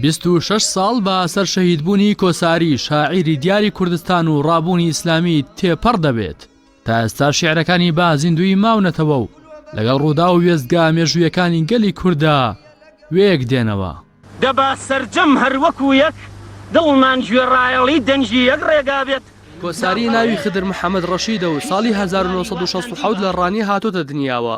بیست و شەش ساڵ بە سەر شەهیدبوونی کۆساری شاعیری دیاری کوردستان و ڕابوونی ئیسلامی تێپەڕ دەبێت تا ئێستا شعرەکانی با زیندوی ماونەتەوە و لەگەڵ ڕوودا و وێزگا مێژوویەکانی گەلی کووردا وێک دێنەوە. دەبا سەرجەم هەر وەکوو یەک دڵمان گوێ ڕایەڵی دەنگی یەک ڕێگا بێت. کۆساری ناوی خدر محەمەد ڕەشیدە و ساڵی هەزار و نۆ سەد و شەست و حەوت لە ڕانیە هاتۆتە دنیاوە،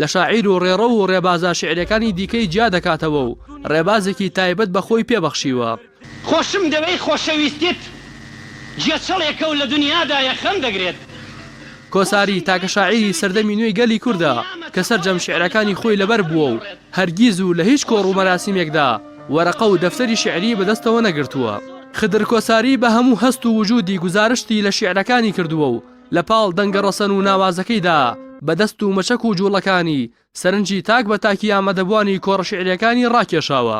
لە شاعیر و ڕێڕەو و ڕێبازە شیعریەکانی دیکەی جیا دەکاتەوە و ڕێبازێکی تایبەت بە خۆی پێ بەخشیوە. خۆشم دەوێی خۆشەویستیت جێچڵێکە و لە دنیادایە خەم دەگرێت. کۆساری تاکە شاعیری سەردەمی نوێی گەلی کوردە کە سەرجەم شیعرەکانی خۆی لەبەر بووە و هەرگیز و لە هیچ کۆڕ و مەراسیمێکدا وەرەقە و دەفتەری شیعریی بە دەستەوە نەگرتووە. خدر کۆساری بە هەموو هەست و وجودی گوزارشتی لە شیعرەکانی کردووە و لە پاڵ دەنگە ڕەسەن و ناوازەکەیدا، بە دەست و مەچەک و جووڵەکانی، سەرنجی تاک بە تاکی ئامادەبووانی کۆڕە شیعرییەکانی ڕاکێشاوە.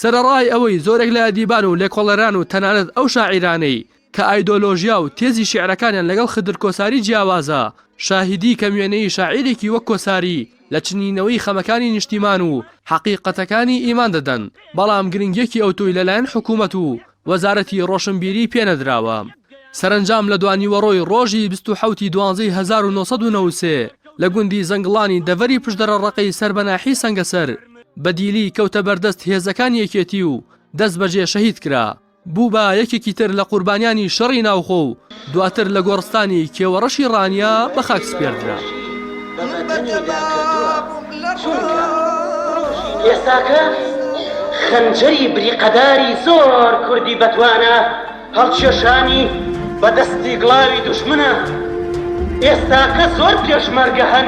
سەرەڕای ئەوەی زۆرێک لە ئەدیبان و لێکۆڵەران و تەنانەت ئەو شاعیرانەی، کە ئایدۆلۆژیا و تێزی شیعرەکانیان لەگەڵ خدر کۆساری جیاوازە، شاهیدی کەموێنەیی شاعیرێکی وەک کۆساری لە چنینەوەی خەمەکانی نیشتیمان و حەقیقەتەکانی ئیمان دەدەن، بەڵام گرنگییەکی ئەوتۆی لەلایەن حکوومەت و وەزارەتی ڕۆشنبیری پێنەدراوە. سەرەنجام لە دوانیوەڕۆی ڕۆژی بیست و حەوتی دوانزەی هەزار و نۆ سەد و نەوەد و سێ لە گوندی زەنگڵانی دەڤەری پشدەرە ڕەقەی سەر بە ناحیەی سەنگەسەر بە دیلی کەوتە بەردەست هێزەکانی یەکێتی و دەستبەجێ شەهید کرا. بوو بە یەکێکی تر لە قوربانیانی شەڕی ناوخۆ و دواتر لە گۆڕستانی کێوەڕەشی ڕانیە بە خاک سپێردرا. خەنجەری بریقەداری زۆر کوردی بەتوانە هەڵکێشانی بە دەستی گڵاوی دوژمنە ئێستاکە زۆر پێشمەرگە هەن